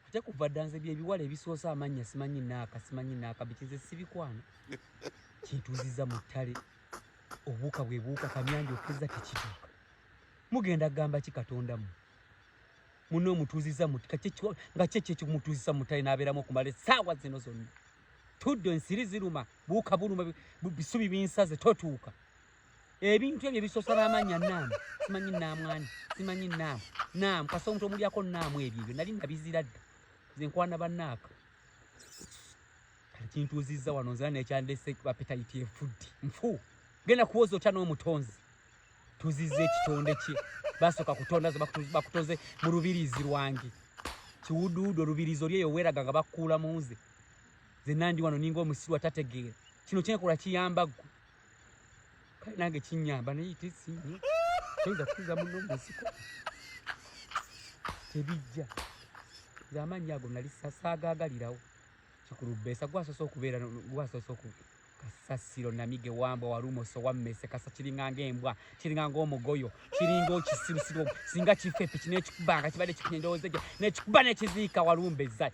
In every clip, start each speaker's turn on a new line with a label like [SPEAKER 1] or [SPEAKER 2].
[SPEAKER 1] ate kuva dda nze byebiwala ebisoose amannya simanyi naaka simanyi naaka bikize sibikwana kintuuziza mu ttale obuuka bwe buuka kamyanja okuzza tekituuka mugenda gamba ki katonda mu mune omutuuziza nga kyekyo ekikumutuuziza mu ttale n'abeeramu okumala essaawa zino zonna tuddo ensiri ziruma buuka buluma bisubi binsaze totuuka ebintu ebyo bisosa n'amannya naamu simanyi naamwani simanyi naamu naamu kasa omuntu omulyako naamu ebyo ebyo nali nabizira dda nze nkwana bannaaka kati kintuuzizza wano nzira nekyandese bapetayiti efuddi nfu genda kuwoza otya n'omutonzi tuzize ekitonde kye basooka kutonda ze bakutoze mu lubiriizi lwange kiwuduwudu olubiriizi oli eyo weeraga nga bakukuula mu nze nze nandi wano ninga omusiru atategeera kino kyenkola kiyamba ggwe kale nange kinyamba naye tesinye toyinza kutuza muno munsiko tebijja nze amaanyi ago nali sasaagagalirawo kikulubesa gwasoose okubeera gwasoose oku kasasiro namige wambwa walumoso wammese kasa kiringa ngaembwa kiringa ngaomugoyo kiringa okisirusiru singa kifa epi kinekikubanga kibadde kikunyendowooza gye nekikuba nekiziika walumbeza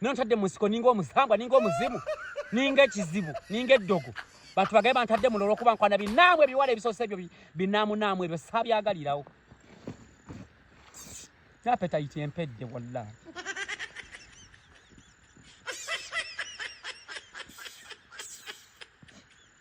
[SPEAKER 1] nontadde mu nsiko ninga omusambwa ninga omuzimu ninga ekizibu ninga eddogo bantu bagaye bantadde muno olwokuba nkwana binaamwe ebiwala ebisoose ebyo binaamunaamu ebyo sabyagalirawo napetayiti empedde walla